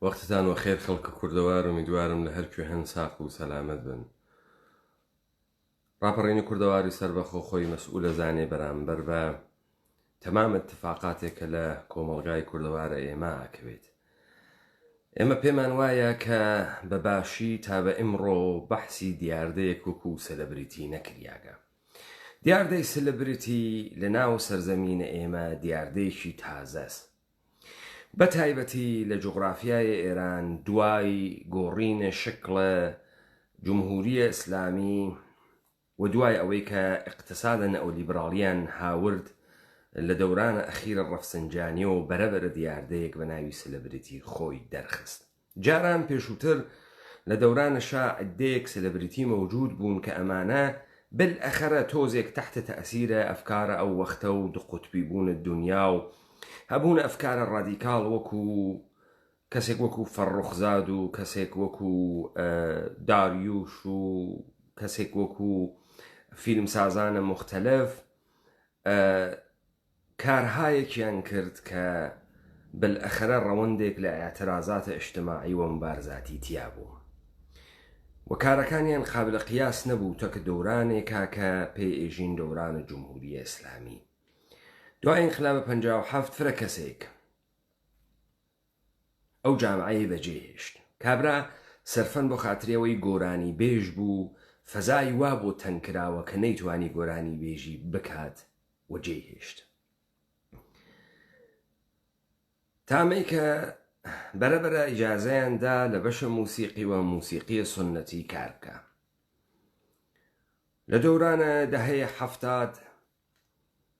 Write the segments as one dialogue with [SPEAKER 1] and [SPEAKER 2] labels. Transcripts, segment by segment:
[SPEAKER 1] وەختتان وەخێر خەڵکە کوردەوار ئومیدوارم لە هەر کوێ هەن ساق و سەلامەت بن. ڕاپەڕینی کوردەواری سەربەخۆ خۆی مەسئولە زانێ بەرامبەر بە تەمام اتفاقاتێک کە لە کۆمەڵگای کوردەوارە ئێمە ئاکەوێت ئێمە پێمان وایە کە بە باشی تا بە ئمڕۆ بەحسی دیاردەیەک وکو سەلەبریتی نەکریاگە دیاردەی سلبریتی لە ناو سەرزەمینە ئێمە دیاردەیەکی تازەست بەتایبەتی لە جوغرافیای ئێران دوای گۆڕینێ شکڵێ جمهوریە ئیسلامی و دوای ئەوەی کە ئیقتسادە نئولیبراڵیان هاورد لە دەورانە ئەخیرە ڕەفسنجانیەوە بەرەبەرە دیاردەیەک بە ناوی سلبریتی خۆی دەرخست. جاران پێشووتر لە دەوران شا عدەیەک سلبریتی مەوجود بوون کە ئەمانە بالأخرە تۆزێک تحت تأثیر ئەفکارە ئەو وەختە و دو قوتبی بوون دونیا و هەبوون ئەفکارە ڕادیکاڵ وەکو کەسێک وەکو فەڕوخزاد و کەسێک وەکو داریوش و کەسێک وەکو فیلمسازانە موختەلەف کارهایەکیان کرد کە بلەخەرە ڕەوەندێک لە ئیعترازات اجتماعی و مبارزاتی تیا بوو و کارەکانیان قابل قیاس نەبوو تەک دورانێکا کە پێ ئێژین دوران جمهوریە اسلامی دوای انقلاب پەنجا و حەفت فرە کەسێک ئەو جامعەی بەجێ هێشت. کابرا سەرفەن بۆ خاتری ئەوەی گۆرانی بێژ بوو فەزای وا بۆ تەنگ کراوە کە نەیتوانی گۆرانی بێژی بکات و جێی هێشت. تامەی کە بەرە بەرە ئیجازەیان دا لە بەشە موسیقی و موسیقیە سنەتی کار بکە. لە دەورانە دەهەیە حەفتاد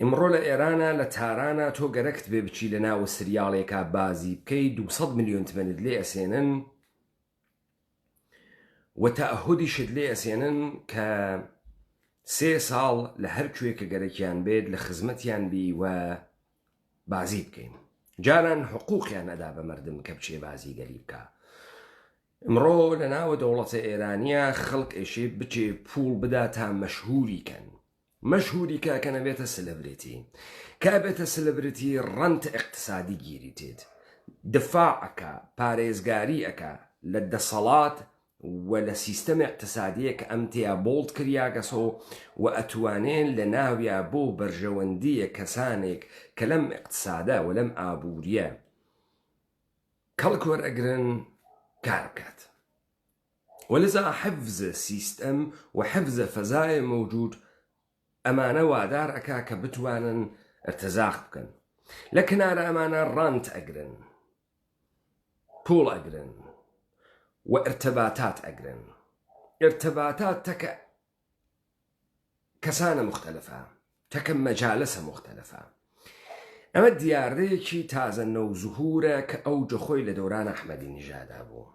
[SPEAKER 1] ئیمڕۆ لە ئێرانا لە تارانا تۆ گەرەکت بێ بچی لە ناوە سریاڵێکا بازی بکەی دوو سەد ملیۆن تمەنت لێ ئەسێنن و تەئەهودیشت لێ ئەسێنن کە سێ ساڵ لە هەر کوێ کە گەرەکیان بێت لە خزمەتیان بی و بازی بکەین جاران حقوقیان ئەدا بە مردم کە بچێ بازی گەلی بکە ئمڕۆ لە ناوە دەوڵەتە ئێرانیە خەڵک ئێشێ بچێ پوڵ بدا تا مەشهوری کەن مەشهوری کاکە نەبێتە سلبرتی کابێتە سلبرتی ڕەنتە اقتصادی گیری تێت دفاع ئەکا پارێزگاری ئەکا لە دەسەڵات و لە سیستەم اقتصادیە کە ئەم تیا بۆڵد کریاگەسۆ و ئەتوانێ لە ناویا بۆ بەرژەوەندیە کەسانێک کە لەم اقتصادە و لەم ئابووریە کەڵک وەرئەگرن کار بکات. ولذا حفظ سیستم و حفظ فضاء موجود ئەمانە وادار ئەکا کە بتوانن ارتزاق بکەن لە کنارە ئەمانە ڕانت ئەگرن پوڵ ئەگرن و ارتباطات ئەگرن ارتباطات تەکە کەسانە مختلفە تەکە مەجالسە مختلفە ئەمە دیاردەیەکی تازە نەو زهورە کە ئەوجە خۆی لە دەوران ئەحمەدی نژادا بوو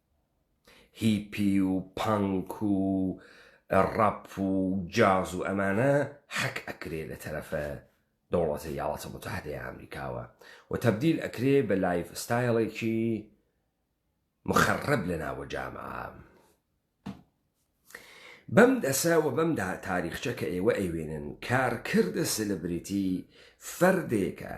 [SPEAKER 1] هیپی و پانک و ڕەپ و جاز و ئەمانە حەک ئەکرێ لە تەرەفە دەوڵەتە یاڵاتە موتەحدەیە ئامریکاوە و تەبدیل ئەکرێ بە لایڤ ستایڵێکی مخەڕەب لە ناوە جامعە بەم دەسە وە بەم دا تاریخچە کە ئێوە ئەیوێنن کارکردە سلبریتی فەردێکە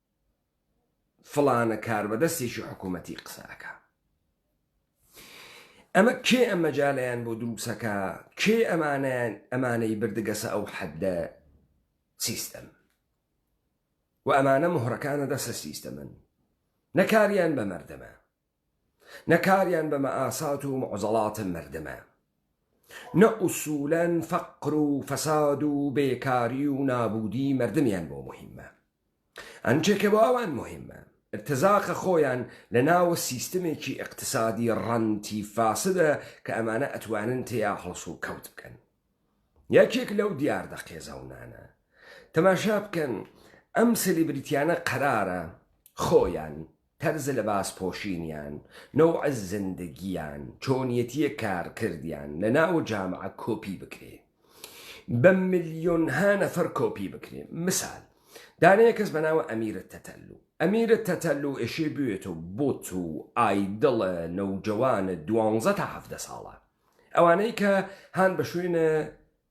[SPEAKER 1] فڵانە کاربەدەستێکی حکوومەتی قسە ئەکا ئەمە کێ ئەم مەجالیان بۆ دروسەکە کێ ئەمانیان ئەمانەی بردگەسە ئەو حەدە سیستەم و ئەمانە مهڕەکانە دەسە سیستەمن نەکاریان بە مردەمە نە کاریان بە مەئاسات و معزەڵات مەردمە نە ئوسولەن فەقر و فەساد و بێکاری و نابودی مەردمیان بۆ موهیمە ئەنچە کە بۆ ئەوان موهیمە ارتزاقە خۆیان لە ناوە سیستمێکی ئیقتسادی ڕەنتی فاسدە کە ئەمانە ئەتوانن تێیا هەڵسو کەوت بکەن یەکێک لەو دیاردە قێزەونانە تەماشا بکەن ئەم سلیبریتیانە قەرارە خۆیان تەرز لەباس پۆشینیان، نەوع زندگیان، چۆنیەتیە کارکردیان لەناو جامعە کۆپی بکرێ. بە ملیۆنها نەفەر کۆپی بکرێ. مسال، دانەیە کەس بەناوە ئەمیرە تەتەلو. ئەمیرە تەتەلو ئێشێ بوێتۆ بۆت و ئایدڵە نەوجەوانە دوانزە تا حەڤدە ساڵان. ئەوانەی کە هان بە شوێنە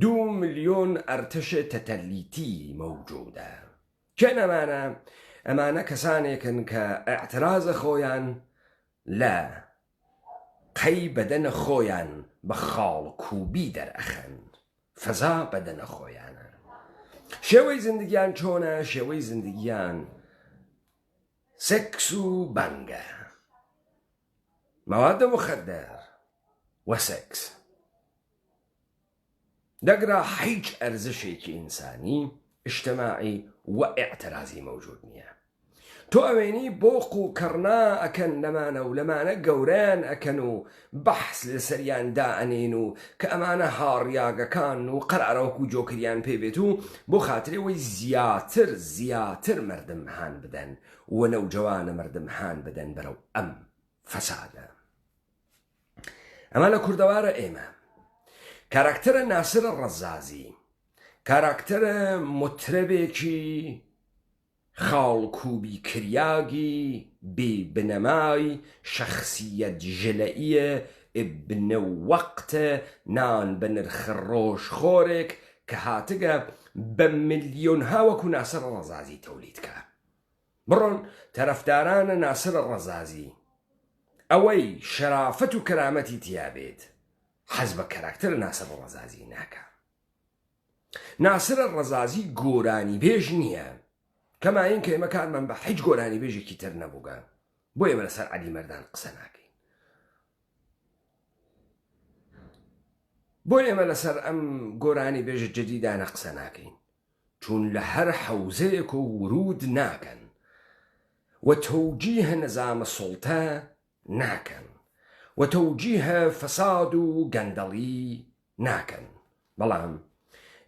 [SPEAKER 1] دوو ملیۆن ئەرتەش تەتەلیتی مەوجودە کێن ئەمانە؟ ئەمانە کەسانێکن کە ئیعترازە خۆیان لە قەی بەدەنە خۆیان بە خاڵکوبی دەرئەخەن فەزا بەدەنە خۆیانە شێوەی زندگیان چۆنە شێوەی زندگیان سەکس و بەنگە مەوادە مخدر وە سەکس دەگرە حیچ ئەرزشێکی ئینسانی، ئیجتماعی و ئیعترازی مەوجود نیە. تۆ ئەوێنی بۆق و کەڕنا ئەکەن لەمانە و لەمانە گەورەیان ئەکەن و بەحس لەسەریان دائەنێن و کە ئەمانە هاڕیاگەکان و قەرارە وەکو جۆکریان پێ بێت و بۆ خاتری ئەوەی زیاتر زیاتر مەردم هان بدەن و نەوجەوانە مەردم هان بدەن بەرەو ئەم فەسادە ئەمە لە کوردەوارە ئێمە کاراکتەرە ناسرە ڕەزازی کاراکتەرە مترەبێکی خاڵکوبی کریاگی بی بنەمای شخصیت ژلەیە ئبنە وەقتە نان بە نرخ ڕۆژ خۆرێک کە هاتگە بە ملیۆنها وەکو ناسر ڕەزازی تەولید کە. بڕۆن تەرەفدارانە ناسرە ڕەزازی ئەوەی شەرافەت و کەرامەتی تیابێت حەز بە کەراکتەرە ناسرە ڕەزازی ناکا ناسرە ڕەزازی گۆرانی بێژ نییە کەما این کە ئێمە کارمان بە حیچ گۆرانی بێژێکی تر نەبووگە بۆ ئێمە لەسەر عەلی مەردان قسە ناکەین بۆ ئێمە لەسەر ئەم گۆرانی بێژە جدیدانە قسە ناکەین چون لە هەر حەوزەیەکۆ وروود ناکەن و تەوجیه نزامە سوڵتە ناکەن و تەوجیه فەساد و گەندەڵی ناکەن بەڵام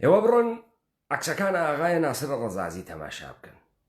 [SPEAKER 1] ئێوە بڕۆن عەکسەکان ئاغای ناسر ڕەزازی تەماشا بکەن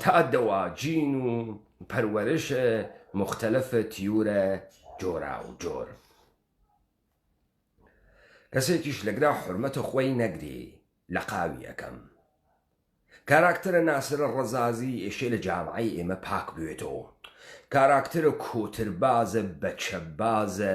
[SPEAKER 1] تا دوا جین و پەروەرش موختەلەف تیورە جۆرا و جۆر. کەسێکیش لەگرا حورمەت خوەی نەگری لەقاوی یەکەم. کاراکتەرە ناسرە ڕەزازی ئێشێ لە جامعەی ئێمە پاک بوێتۆ. کاراکتەرە کۆتربازە بەچەبازە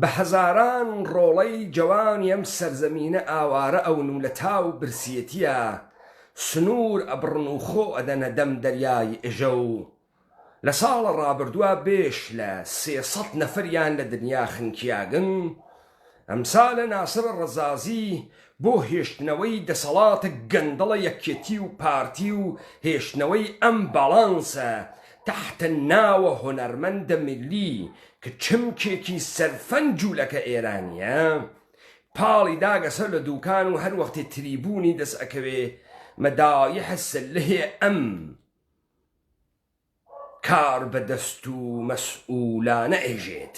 [SPEAKER 1] بە هەزاران ڕۆڵەی جەوانی ئەم سەرزەمینە ئاوارە ئەون و لە تاو برسیەتیە سنور ئەبڕن و خۆ ئەدەنە دەم دەریای ئژە و لە ساڵە ڕابردوە بێش لە سێ سەد نەفەریان لە دنیا خنکیاگن ئەمسالە ناسر ڕەزازی بۆ هێشتنەوەی دەسەڵاتە گەندەڵە یەکێتی و پارتی و هێشتنەوەی ئەم باڵانسە تحت ناوە هونەرمەندە ملی ک چمکێکی سەرفەن جولەکە ئێرانیە پاڵی داگە سەر لە دوکان و هەر وەختێ تریبونی دەس ئەکەوێ مەدایح سلهێ ئەم کار بە دەست و مەسئولانە ئێژێت.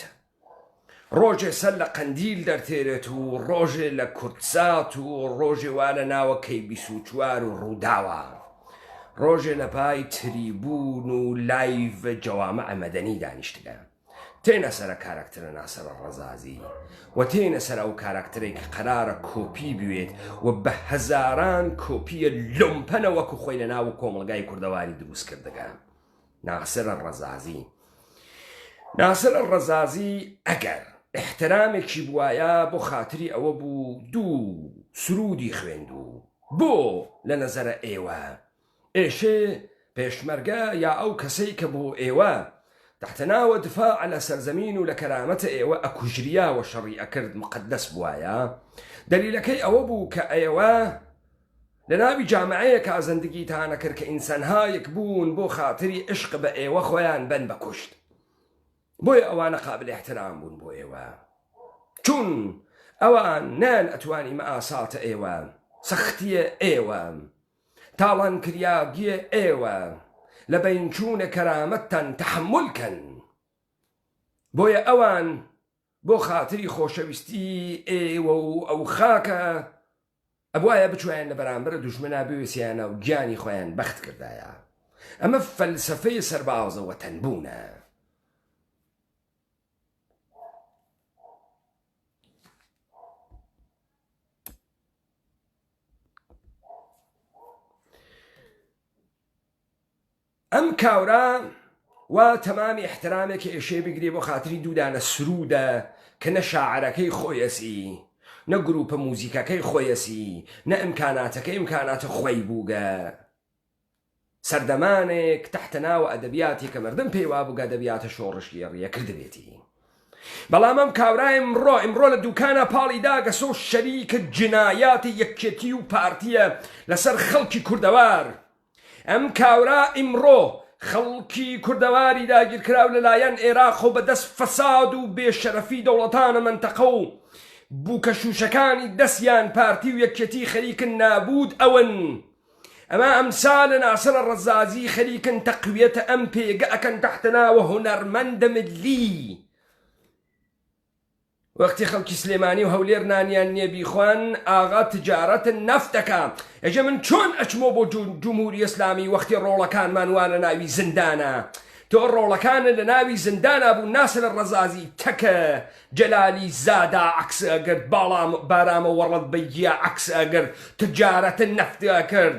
[SPEAKER 1] ڕۆژێ سەر لە قەندیل دەرتێرێت و ڕۆژێ لە کوردسات و ڕۆژێ وا لە ناوە کەی بیست و چوار و ڕووداوە ڕۆژێ لە پای تریبوون و لایڤ جەوامع مەدەنی دانیشتگە تێنە سەرە کاراکترە ناسەرە ڕەزازی و تێنە سەر ئەو کاراکتەرێک کە قەرارە کۆپی بوێت و بە هەزاران کۆپیە لۆمپەنە وەکو خۆی لە ناو کۆمەڵگای کوردەواری دروست کردگە. ناسر الرزازی ناسر الرزازی ئەگەر احترامێکی بوایە بۆ خاتری ئەوە بوو دوو سرودی خوێندوو بۆ لە نەزەرە ئێوە ئێشێ پێشمەرگە یا ئەو کەسەی کە بۆ ئێوە تحتەناوە دفاع لە سەرزەمین و لە کەرامەتە ئێوە ئەکوژریاوە شەڕی ئەکرد مقدس بوایە دەلیلەکەی ئەوە بوو کە ئەیەوە لە ناوی جامعەیەکا زندگی تانە کرد کە ئینسانهایک بوون بۆ خاتری عشق بە ئێوە خۆیان بەن بە کوشت بۆیە ئەوانە قابل احترام بوون بۆ ئێوە چون ئەوان نەیان ئەتوانی مەئاساتە ئێوە سەختیە ئێوە تاڵان کریاگیە ئێوە لە بەین چوونە کەرامەتتان تەحمول کەن بۆیە ئەوان بۆ خاتری خۆشەویستی ئێوە و ئەو خاکە ئەبوایە بچوایان لە بەرامبەر دوژمنا بوێسیانە و گیانی خۆیان بەخت کردایە ئەمە فەلسفەی سەربازە وەتەنبوونە ئەم کاورە وا تەمامی ئیحترامێ کە ئێشێ بگرێ بۆ خاتری دوو دانە سروودە کە نە شاعرەکەی خۆیەسی نە گرووپە موزیکەکەی خۆیەسی نە ئیمکاناتەکەی ئیمکاناتە خۆی بووگە سەردەمانێک تەحتە ناوە ئەدەبیاتی کە مردم پێی وا بووگە ئەدەبیاتە شۆڕشگێڕیە کردبێتی بەڵام ئەم کاورای ئمڕۆ ئمڕۆ لە دوکانە پاڵی داگەسۆ شەریکە جنایاتی یەکێتی و پارتیە لەسەر خەڵکی کوردەوار ئەم کاورا ئیمڕۆ خەڵکی کوردەواری داگیرکراو لەلایەن ئێراقەو بە دەست فەساد و بێ شەرەفی دەوڵەتانە مەنتەقەو بوکەشوشەکانی دەستیان پارتی و یەکیەتی خەریکن نابود ئەون ئەمە ئەمسالە ناسرە رەزازی خەریکن تەقویەتە ئەم پێگە ئەکەن تەحتە ناوە هونەرمەندە ملی وەختی خەڵکی سلێمانی و هەولێر نانیان نیە بیخوان ئاغا تجارت نفت دەکا ئێجا من چۆن ئەچمۆ بۆ جمهوری اسلامی وەختی ڕۆڵەکانمان وا لە ناوی زندانە تۆ ڕۆڵەکانە لە ناوی زندانا بوو ناسر ڕەزازی تەکە جەلالی زادا عکس ئەگرت باڵام بارامە وەڕەت بەیگیا عکس ئەگرت تجارت نفت ئەکرد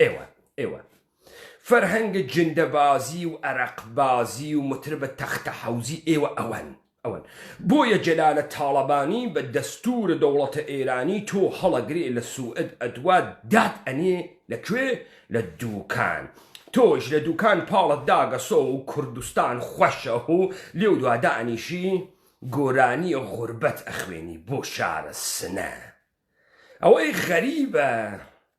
[SPEAKER 1] ئێوە ئێوە فەرهەنگە جندەبازی و ئەرەقبازی و متربە تەختە حەوزی ئێوە ئەوەن ئەوەن بۆیە جەلالە تاڵەبانی بە دەستورە دەوڵەتە ئێرانی تۆ هەڵەگرێ لە سوئد ئەدوات دات ئەنێ لە کوێ لە دوکان تۆش لە دوکان پاڵت داگەسۆ و کوردستان خوەشە هو لێو دوا دانیشی گۆرانیە غوربەت ئەخوێنی بۆ شارە سنە ئەوەی غەریبە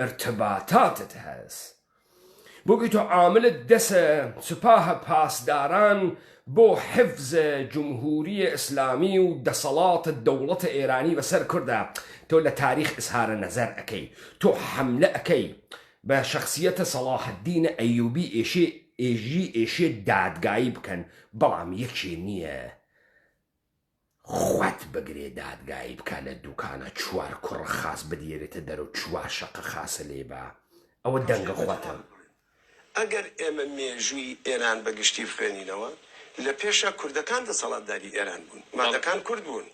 [SPEAKER 1] ارتباطاتت هەس بوگی تۆ عاملت دەسە سوپاه پاسداران بۆ حفظ جمهوری اسلامی و دەسەڵات دەوڵەت ئێرانی بەسەر کوردا تۆ لە تاریخ اسهار نەزەر ئەکەی تۆ حەملە ئەکەی بە شەخسیەتە سەڵاح الدین ئەیوبی ئێشێ ئێژی ئێشێ دادگایی بکەن بەڵام یەکێ نییە خوت بگرێ دادگایی بکە لە دوکانە چوار کوڕ خاس بدیەرێتە دەرو چوار شەقە خاسە لێ با ئەوە دەنگە خوتە. ئەگەر
[SPEAKER 2] ئێمە مێژووی ئێران بە گشتی بخوێنینەوە، لە پێشا کوردەکان دەسەڵاتداری ئێران بوون، مادەکان کورد بوون،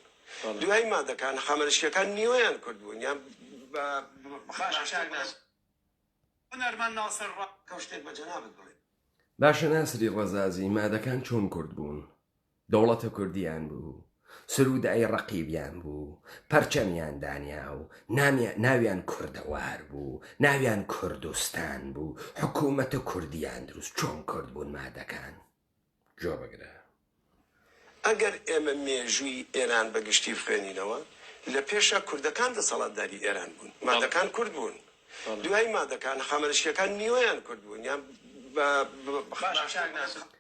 [SPEAKER 2] دوای مادەکان حەمەلەشکریەکان نیوەیان کورد بوون یان بە.
[SPEAKER 1] باشە ناسری ڕەزازی، مادەکان چۆن کورد بوون؟ دەوڵەتە کوردیان بوو، سروودای ڕەقیبیان بوو، پەرچەمیان دانیا و ناویان کوردەوار بوو، ناویان کوردستان بوو، حکوومەتە کوردیان دروست، چۆن کورد بوون مادەکان؟ گوێ بگرە.
[SPEAKER 2] ئەگەر ئێمە مێژووی ئێران بە گشتی بخوێنینەوە، لە پێشا کوردەکان دەسەڵاتداری ئێران بوون، مادەکان کورد بوون، دوای مادەکان هەخامەنشییەکان نیوەیان کورد بوون، یان بە باشتر نازانم.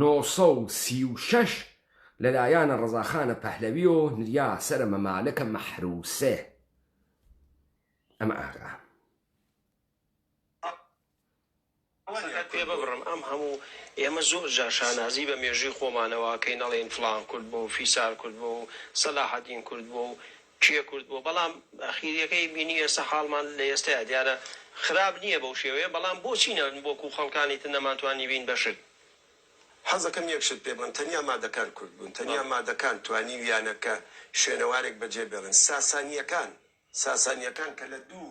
[SPEAKER 1] نۆ سەد و سی و شەش لە لایان ڕەزاخانە پەهلەویۆ نریا سەرە مەمالەکە مەحروسێ ئەمە ئاغا. سەر
[SPEAKER 3] پێ ببڕم ئەم هەموو ئێمە زۆر جار شانازی بە مێژووی خۆمانەوە ئەکەین ئەڵێین فڵان کورد بوو فیسار کورد بوو سەلاحەدین کورد بوو کێ کورد بووە بەڵام ئەخیریەکەی بینی ئێستا حاڵمان لە ئێستەیا دیارە خراپ نییە بەو شێوەیە بەڵام بۆچی نە وەک و خەڵکانی تر نەمانتوانی بین بە شت. حەزەکەم
[SPEAKER 2] یەک شت پێ بڵێم تەنیا مادەکان کورد بوون تەنیا مادەکان توانیویانە کە شوێنەوارێک بەجێ بێڵن ساسانیەکان
[SPEAKER 1] ساسانیەکان
[SPEAKER 2] کە لە دوو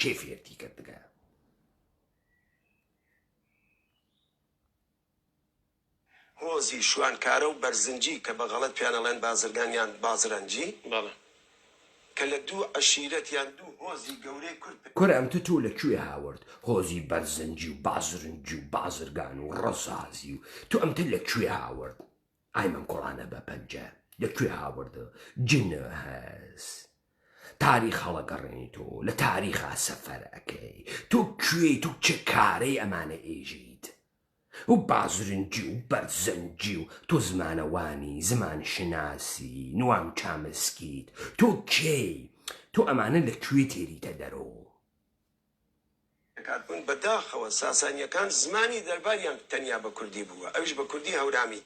[SPEAKER 1] کێ فێرتی کرد تکایە.
[SPEAKER 2] هۆزی شوانکارە و بەرزنجی کە بە غەڵەت پێیان ئەڵێن بازرگان یان بازرەنجی بەڵێ. کە لە دوو عەشیرەت یان دوو هۆزی گەورەی کورد پێ. کورە ئەمتە تۆ لە کوێ
[SPEAKER 1] هاورد هۆزی بەرزنجی و بازرنجی و بازرگان و ڕەزازی و تۆ ئەمتە لە کوێ هاورد؟ ئای من کوڕانە بە پەنجە لە کوێ هاوردە جن هەس تاریخ هەڵەگەڕێنی تۆ لە تاریخا سەفەر ئەەکەی تۆ کوێی تو چ کارەی ئەمانە ئێژیت و بازرنجی و بەرزەنجی و تۆ زمانەوانی زمان شناسی نوام چامسکیت تۆ کێی تۆ ئەمانە لە کوێ تێریتە دەرەوە دەکات
[SPEAKER 2] بوون، بە داخەوە ساسانییەکان زمانی دەرباریان تەنیا بە کوردی بووە ئەویش بە کوردی هەورامی،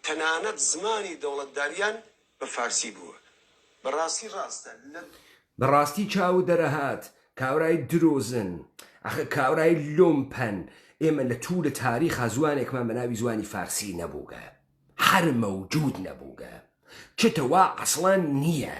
[SPEAKER 2] تەنانەت زمانی دەوڵەتداریان بە فارسی بووە بە ڕاستی ڕاستە لە. بە ڕاستی
[SPEAKER 1] چاوو دەرەهات کابرای درۆزن ئەخە کابرای لۆمپەن ئێمە لە توولە تاریخا زوانێکمان بە ناوی زوانی فارسی نەبووگە هەر مەوجوود نەبووگە چ تە وا عەسڵەن نییە.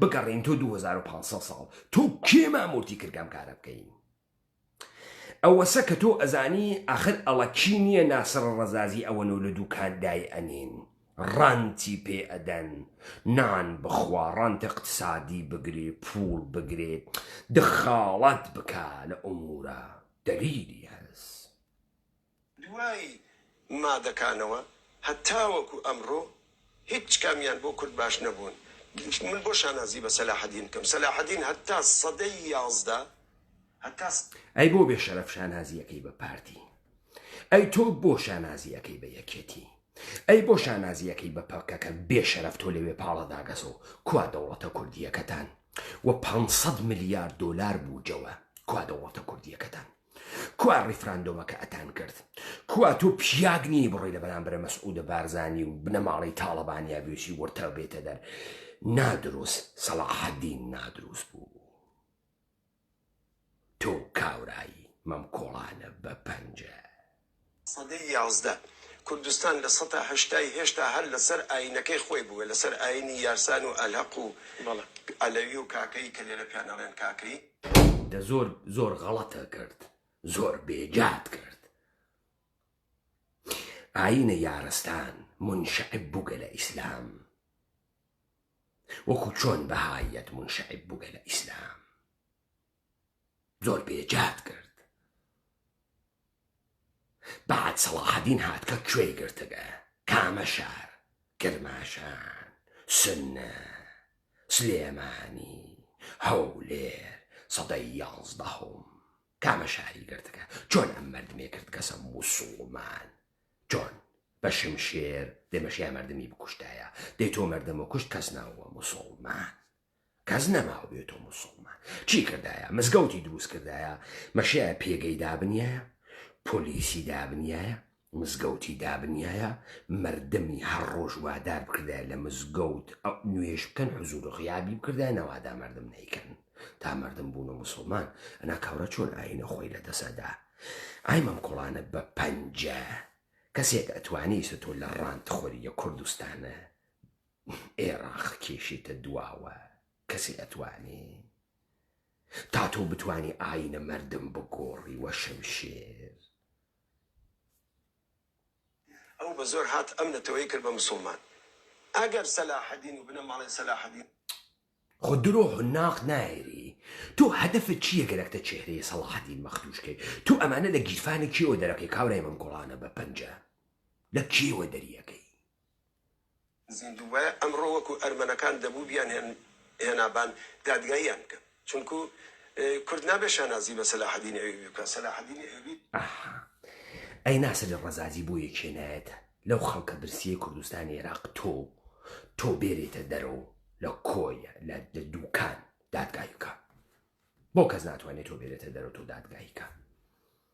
[SPEAKER 1] بگەڕێین تۆ 2500 ساڵ تۆ کێ مامورتی کردگام کارە بکەین ئەوەسە کە تۆ ئەزانی ئاخر ئەڵەکی نییە ناسڕ ڕزازی ئەوەن و لە دووکاندای ئەنین ڕانتی پێ ئەدەن نان بخوا ڕانتە اقتصادی بگرێ پول بگرێت دخاڵەت بکە لە ئۆمورە دەلیلی هەست
[SPEAKER 2] دوای مادەکانەوە هەتاوەکو ئەمڕۆ هیچ کامیان بۆ کورد باش نەبوون من بۆ شانازی بە سەلاحەدین بکەم سەلاحەدین هەتا سەدەی یازدە هەتا
[SPEAKER 1] ئەی بۆ بێ شەرەف شانازی ئەکەی بە پارتی ئەی تۆ بۆ شانازی ئەکەی بە یەکێتی ئەی بۆ شانازی ئەکەی بە پەکەکە بێ شەرەف تۆ لەوێ پاڵە داگەزۆ کوا دەوڵەتە کوردیەکەتان وە پانسەد ملیار دۆلار بوجەوە کوا دەوڵەتە کوردیەکەتان کوا ڕیفراندۆمەکە ئەتان کرد کوا تۆ پیاگ نیە بڕۆی لە بەرامبرە مەسعودە بارزانانی و بنەماڵی تاڵەبانیا بێشی وەرتە بێتە دەر نادروست سەڵاحدین نادروست بوو تۆ کاورایی مەم کۆڵانە بە پەنجە سەدەی
[SPEAKER 2] یازدە کوردستان لە سەتا هەشتای هێشتا هەر لەسەر ئایینەکەی خۆی بووە، لەسەر ئایینی یارسان و ئەلهەق و عەلەوی و کاکەیی کە لێرە پیان ئەڵێن کاکەیی. دە زۆر
[SPEAKER 1] زۆر غەڵەتە کرد زۆر بێ جات کرد ئاینە یارستان مونشعب بوگە لە ئیسلام وەکو چۆن بەهایەت مونشعب بوگە لە ئیسلام. زۆر بێجات کرد بعد سەڵاحەدین هات کە کوێی گرتگە کامە شار کرماشان سنە سلێمانی هەولێر سەدەی یازدەهۆم کامە شاری گرتگە چۆن ئەم مردمێ کردگەسە موسوڵمان چۆن بە شمشێر دێمەشیا مردمی بکوشتایە دەی تۆ مردم و کوشت کەس ناوە موسڵمان کەس نەماوبێتۆ موسوڵمان چی کردایە مزگەوتی دروست کردایە مەشایە پێگەی دابنیایە پۆلیسی دابنیایە مزگەوتی دابنیایە مردمی هەر ڕۆژ وادار بکردای لە مزگەوت ئەو نوێش بکەن حزور و غیابی بکردای نەوادا مردم نیکەن تا مردم بوون و مسلمان ئەنا کاورە چۆن ئاینە خۆی لە دەسەدا ئای مەم کوڵانە بە پەنجە کەسێک ئەتوانی سە تۆ لە ڕانت خۆریە کوردستانە ئێراق کێشێتە دواوە کەسێ ئەتوانێ تا تۆ بتوانی ئاینە مەردم بگۆڕی وە شمشێر.
[SPEAKER 2] ئەو بە زۆر هات ئەم نەتەوەی کرد بە مسوڵمان ئەگەر سەلاحەدین
[SPEAKER 1] و بنە
[SPEAKER 2] ماڵەی سەلاحەدین.
[SPEAKER 1] خۆ
[SPEAKER 2] درۆ حناق
[SPEAKER 1] نایری تۆ هەدەفت چیە گەرەکتە چێهرەی سەڵاحەدین مەختوش کەی تۆ ئەمانە لە گیرفانی کێوە دەرەکەی کابرای مەم گوڵانە بە پەنجە لە کێوە دەریەکەی. زیندووبایە
[SPEAKER 2] ئەمڕۆ وەکو ئەرمەنەکان دەبوو بیانهێن هێنابان دادگاییان بکەن چونکو کورد نابێت شانازی بە سەلاحەدینی ئەیوبی بکات سەلاحەدینی ئەیوبی. ئەها ئەی
[SPEAKER 1] ناسری ڕەزازی بۆ یەکێ نایەتە لەو خەڵکە برسیەی کوردستانی عێراق تۆ تۆ بێریتە دەرەوە لە کۆیە لە لە دوکان دادگایی بکە بۆ کەس ناتوانێ تۆ بێرێتە دەرەوە تۆ دادگایی کە.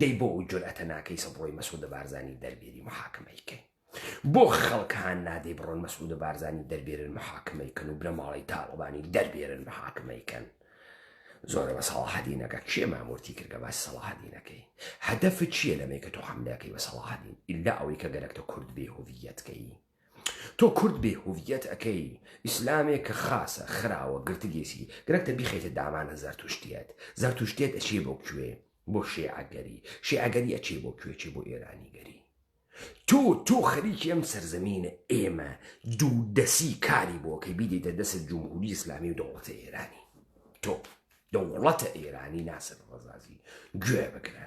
[SPEAKER 1] دەی بۆ ئەو جورئەتە ناکەی سە بڕۆی مەسعودە بارزانی دەربێری محاکمەی کەی بۆ خەڵک هان نادەی بڕۆن مەسعودە بارزانی دەربێرن محاکمەی کەن و بنەماڵەی تاڵەبانی دەربێرن محاکمەی کەن زۆرە بە سەڵاحدینەکە کێ مامورتی کردگە باس سەڵاحدینەکەی هەدەفت چییە لەمەی کە تۆ حملەکەی بە سەڵاحدین ئللا ئەوەی کە گەرەکتە کورد بێ هویەتکەی تۆ کورد بێ هوویەت ئەکەی ئیسلامێ کە خاسە خراوە گرتگێسی گرەک تە بیخەیتە دامانە زەرتوشتیەت زەرتوشتێت ئەچێ بۆ کوێ بۆ شێعەگەری شێعەگەری ئەچێ بۆ کوێ چێ بۆ ئێرانی گەری تۆ تۆ خەریکی ئەم سەرزەمینە ئێمە دوو دەسی کاری بۆ کە بیدەیتە دەسە جمهوری ئیسلامی و دەوڵەتە ئێرانی تۆ دەوڵەتە ئێرانی ناسر ڕزازی گوێ بگرە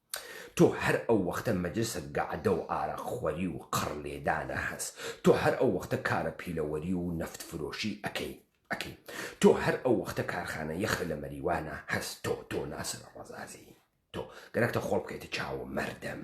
[SPEAKER 1] تۆ هەر ئەو وەختە مەجلسە گەعدە و ئارەق خوەری و قەڕ لێدانە هەس تۆ هەر ئەو وەختە کارە پیلەوەری و نەفت فرۆشی ئەکەی ئەکەی تۆ هەر ئەو وەختە کارخانە یەخە لە مەریوانە هەس تۆ تۆ ناسر ڕەزازی تۆ گەرەکتە خۆڵ بکەیتە چاوو مەردم.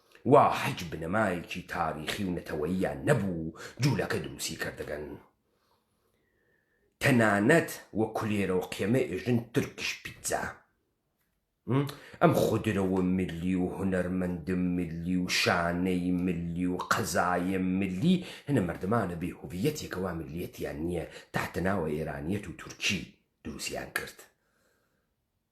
[SPEAKER 1] وا حیچ بنەمایەکی تاریخی و نەتەوەییان نەبوو جولەکە دروستی کردگەن تەنانەت و کولێرە و قێمە ئێژن ترکیش پیتزا ئەم خودرەوە ملی و هونەرمەندم ملی و شانەی ملی و قەزایە ملی هەنە مردمانە بێ هویەتێکەوە ملیەتیان نییە تاتەناوە ئێرانیەت و تورکی دروستیان کرد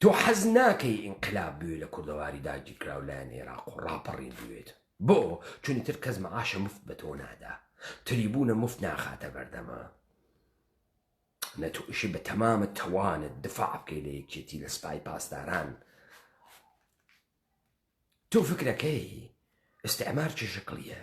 [SPEAKER 1] تۆ حەز ناکەی ئینقلاب بوێ لە کوردەواری داگیرکراو لایەن ئێراق و ڕاپەڕین بوێت بۆ چونی تر کەس مەعاشە مفت بە تۆ نادا تریبوونە مفت ناخاتە بەردەما نە تۆ ئیشی بە تەمامە تەوانت دفاع بکەی لە یەکێتی لە سپای پاسداران تۆ فکرەکەی ئستعمار چ شکڵیە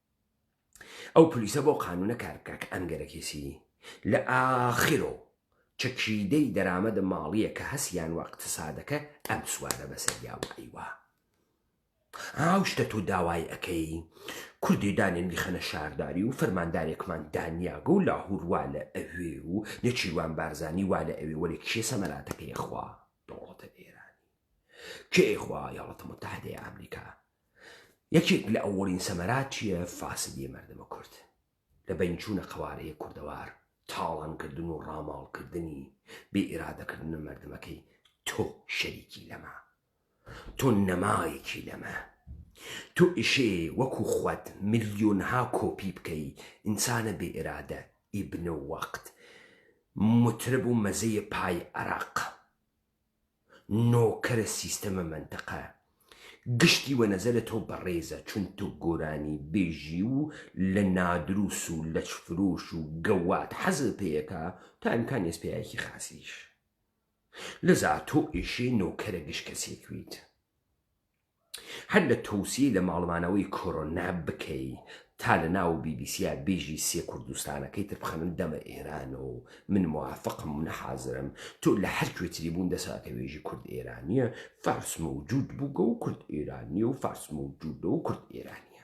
[SPEAKER 1] ئەو پلیسە بەو قانونە کار بکا کە ئەنگەرە کێسی لە ئاخرۆ چەکیدەی دەرامەدە ماڵیە کە هەس یان وە ئقتسادەکە ئەم سوارە بەسەر یا وای وا ئاو شتە تۆ داوای ئەکەی کوردی دانێن بیخەنە شارداری و فەرماندارێکمان دانیاگە و لاهور وا لە ئەوێ و نێچیروان بارزانی وا لە ئەوێ وەلێ کێ سەمەراتەکەی خوا دەوڵەتە ئێرانی کێ خوا یەڵەتە متحدەی ئامریکا یەکێک لە ئەوەڵین سەمەراتیە فاسدیە مەردمە کورد لە بەین چوونە قەوارەیە کوردەوار تاڵان کردن و ڕاماڵ کردنی بێ ئیرادە کردنە مەردمەکەی تۆ شەریکی لەمە تۆ نەمایەکی لەمە تۆ ئیشێ وەکو خوەت ملیۆنها کۆپی بکەی ئینسانە بێ ئیرادە ئیبنە وەقت مترب و مەزەیە پای عراق نۆکەرە سیستەمە مەنتەقە گشتی وە نەزەرە تۆ بەڕێزە چون تۆ گۆرانی بێژی و لە نادروس و لەچ فرۆش و گەواد حەزت پێیەکا تا امکان یەس پیاێکی خاسیش لەزا تۆ ئێشێ نۆکەرە گشت کەسێک ویت. هەر لە تۆوسیەی لە ماڵمانەوەی کۆرۆنا بکەی تا لە ناو بی بی سیا بیژی سێ کوردستانەکەی تر بخەنن دەمە ئێران و من موافقم منە حازرم تۆ لە هەر کوێ تری بوون دەسە ئەکە وێژی کورد ئێرانیە فارس مەوجود بووگە و کورد ئێرانیە و فارس مەوجودە و کورد ئێرانیە.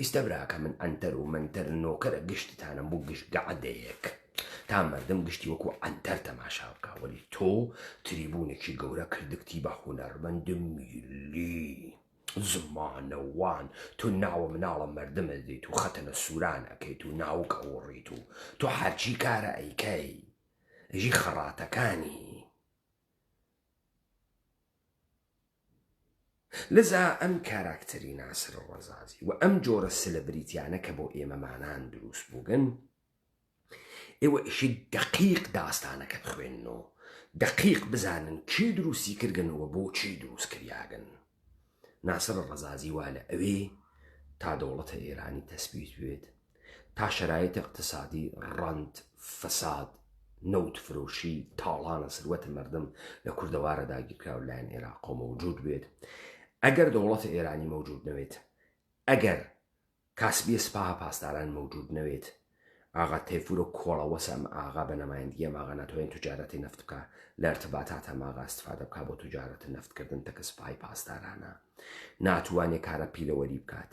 [SPEAKER 1] ئیستە براکە من عەنتەر و مەنتەر نۆکەرە گشتتانم بو گشت گەعدەیەک تا مردم گشتی وەکو عەنتەر تەماشا بکا وەلی تۆ تریبونێکی گەورە کردگتی بە هونەرمەند میللی زمانەوان تۆ ناوە مناڵە مردم ئەدەیت و خەتەنە سوران ئەکەیت و ناوک ئەوەڕیت و تۆ هەرچی کارە ئەیکەی ژی خەڕاتەکانی لذا ئەم کاراکتەری ناسر ڕەزازی و ئەم جۆرە سلبریتیانە کە بۆ ئێمەمانان دروست بووگن ئێوە ئیشی دەقیق داستانەکە بخوێنن و دەقیق بزانن کێ دروستی کردگن و بۆچی دروست کریاگن ناسر ڕەزازی وا لە ئەوێ تا دەوڵەتە ئێرانی تەسبیت بێت تا شەرایت اقتصادی ڕەنت فەساد نەوت فرۆشی تاڵانە سروەت مردم لە کوردەوارە داگیرکراو لایەن عێراقۆ مەوجود بێت ئەگەر دەوڵەت ئێرانی مەوجود نەوێت ئەگەر کاسبیە سپاها پاسداران مەوجود نەوێت ئاغا تەیفورە کۆڵە وەسەم ئاغا بە نەمایندگیە ماغا ناتوانین توجارەتی نفت بکە لە ارتباتاتە ماغا استفادە بکە بۆ توجارەت نفتکردن تەکە سپای پاسدارانە ناتوانێ کارە پیلەوەری بکات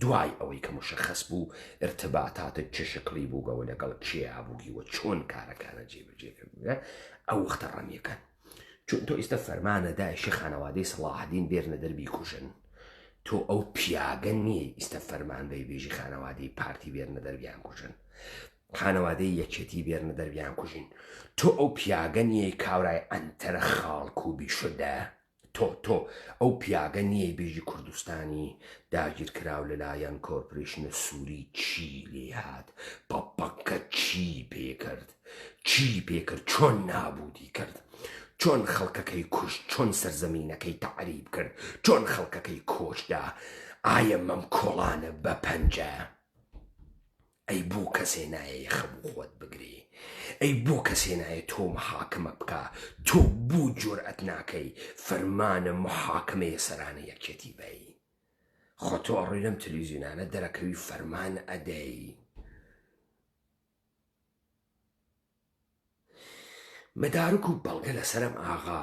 [SPEAKER 1] دوای ئەوەی کە مشەخەس بوو ارتباطاتت چ شکڵی بووگە و لەگەڵ کێیا بووگی و چۆن کارەکانت جێبەجێ کردووە ئەو وەختە ڕەمیەکان چون تۆ ئیستە فەرمانە دایشی خانەوادەی سەڵاحەدین بێرنە دەربی کوژن تۆ ئەو پیاگە نییە ئیستە فەرمان بەی بێژی خانەوادەی پارتی بێرنە دەربیان کوژن خانەوادەی یەکێتی بێرنە دەربیان کوژین تۆ ئەو پیاگە نییە کاورای ئەنتەرە خاڵک و بیشدە تۆ تۆ ئەو پیاگە نیەی بێژی کوردستانی داگیر کراو لە لایەن کۆرپرێشنە سوری چی لێ هات پە پە کە چی پێ کرد چی پێ کرد چۆن نابودی کرد چۆن خەڵکەکەی کوشت چۆن سەرزەمینەکەی تەعریب کرد چۆن خەڵکەکەی کۆچدا ئایە مەم کۆڵانە بە پەنجە ئەی بۆ کەسێ نایە یەخە بو خۆت بگری ئەی بۆ کەسێ نایە تۆ محاکمە بکا تۆ بو جورئەت ناکەی فەرمانە محاکمە یە سەرانە یەکێتی بەی خۆ تۆ ئەڕۆی لەم تلویزیونانە دەرەکەوی فەرمان ئەدەی مەدارک و بەڵگە لەسەرم ئاغا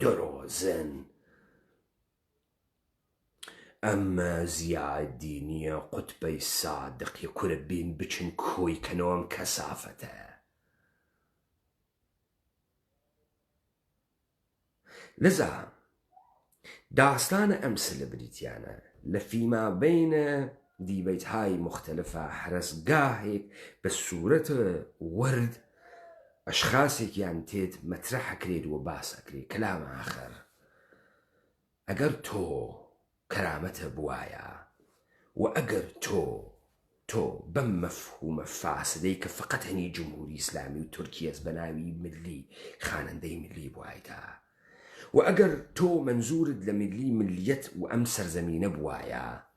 [SPEAKER 1] درۆزن ئەم زیا دینیە قوتبەی سادقی کورە بین بچن کۆی کەنەوە ئەم کەسافەتە. لذا داستانە ئەم سلبریتیانە لە فیما بینە دیبەیت های موختەلفا حەرەس گاهێک بە سورەت وەرد ئەشخاسێکیان تێت مەترەح ئەکرێت و باس ئەکرێت کلام ئاخەر ئەگەر تۆ کەرامەتە بوایە و ئەگەر تۆ تۆ بەم مەفهومە فاسدەی کە فەقەت هەنی جمهوری ئیسلامی و تورکیەس بە ناوی ملی خانەندەی ملی بوایدا و ئەگەر تۆ منزورت لە ملی ملیت و ئەم سەرزەمینە بوایە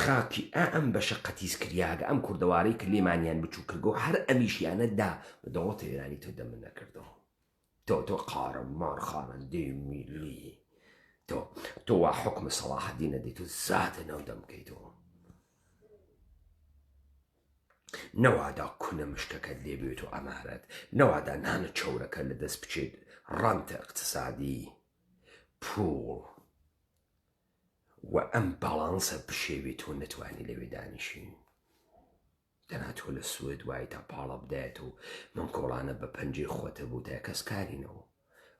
[SPEAKER 1] خاکی ئا ئەم بەشە قەتیس کریاگە ئەم کوردەوارەی ک لێمانیان بچوک کرگەو هەر ئەمیشیانە دا بە دەوڵەتە ئێرانی تۆ دەمت نەکردەوە تۆ تۆ قارە مار خانەندەی میلی تۆ تۆ وا حوکمە سەڵاحەدین ئەدەی تۆ زاتە ناو دەمکەیتەوە نەوادا کونە مشکەکەت لێ بێت و ئەمارەت نەوادا نانە چەورەکە لە دەست بچێت ڕەنتە اقتصادی پوڵ و ئەم باڵانسە بشێوێ تۆ نەتوانی لەوێ دانیشین دەنا تۆ لە سوێد وای تا پاڵە بدایەت و من کۆڵانە بە پەنجەی خۆتە بوو تا کەس کارینەوە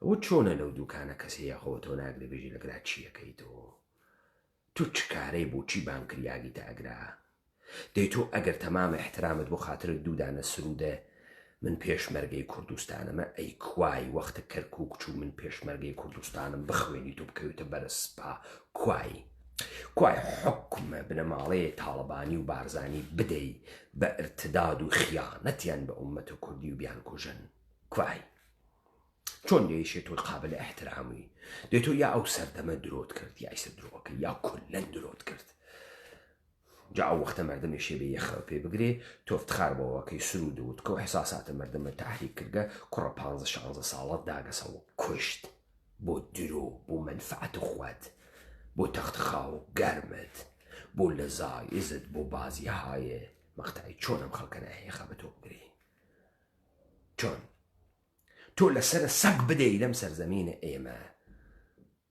[SPEAKER 1] ئەوە چۆنە لەو دوکانە کەسێ یاخەوە تۆ ناگرێ بێژی لەگرا چیەکەیتەوە تۆ چکارەی بۆ چی بانکریاگی تا ئەگرا دەی تۆ ئەگەر تەمام احترامت بۆ خاترت دوو دانە سرودە من پێشمەرگەی کوردستانمە ئەی کوای وەختە کەرکوک چوو من پێشمەرگەی کوردستانم بخوێنیت و بکەویتە بەرە سپا کوای کوای حکومە بنەماڵەیە تاڵەبانی و بارزانی بدەی بە ارتداد و خیانەتیان بە ئومەتە کوردی و بیان کوژن کوای چۆن دەیشێت تۆ قابل احترامی دێت تۆ یا ئەو سەردەمە درۆت کرد یا ئیسە درۆەکە یا کلەن درۆت کرد جا ئەو وەختە مەردمێ شێبێ یە خەو پێ بگرێ، تۆ فتخار بە وەکەی سروود و وتکە و ئحساساتە مەردمە تەحریک کرگە، کوڕە پانزە شانزە ساڵەت داگەسە و کوشت، بۆ درۆ، بۆ مەنفعەت خوەت، بۆ تەخت خاو گەرمت، بۆ لەزایزت، بۆ بازی هایێ، مەقتەعی چۆن ئەم خەڵکە ناهێخا بە تۆ بگرێ؟ چۆن؟ تۆ لە سەرە سەگ بدەی لەم سەرزەمینە ئێمە،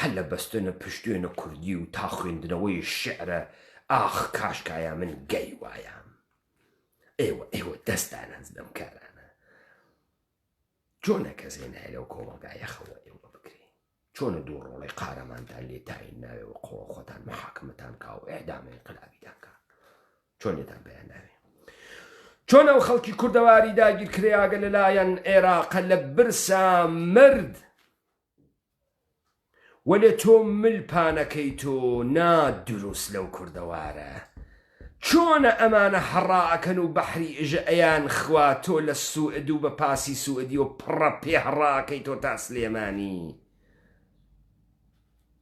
[SPEAKER 1] هەر لە بەستنە پشتێنە کوردی و تا خوێندنەوەی شیعرە ئاخ کاشکایا من گەی وایام ئێوە ئێوە دەست دانەنج بەم کارانە چۆنە کەسێ نایە لەو کۆمەڵگایە خەوە ئێوە بکرێ چۆنە دوو ڕۆڵی قارەمانتان لێ تاین ناوێەوە قۆ خۆتان محاکمەتان کا و ئەعدامی قلابیتان کا چۆنێتان بەیان ناوێ چۆن ئەو خەڵکی کوردەواری داگیرکرێیاگە لەلایەن عێراقە لە برسا مرد وەلێ تۆ مل پانەکەی تۆ نا دروست لەو کوردەوارە چۆنە ئەمانە هەڕا ئەکەن و بەحری ئژە ئەیان خوا تۆ لە سوئد و بە پاسی سوئدیەو پڕە پێ هەڕا ئەکەی تۆ تا سلێمانی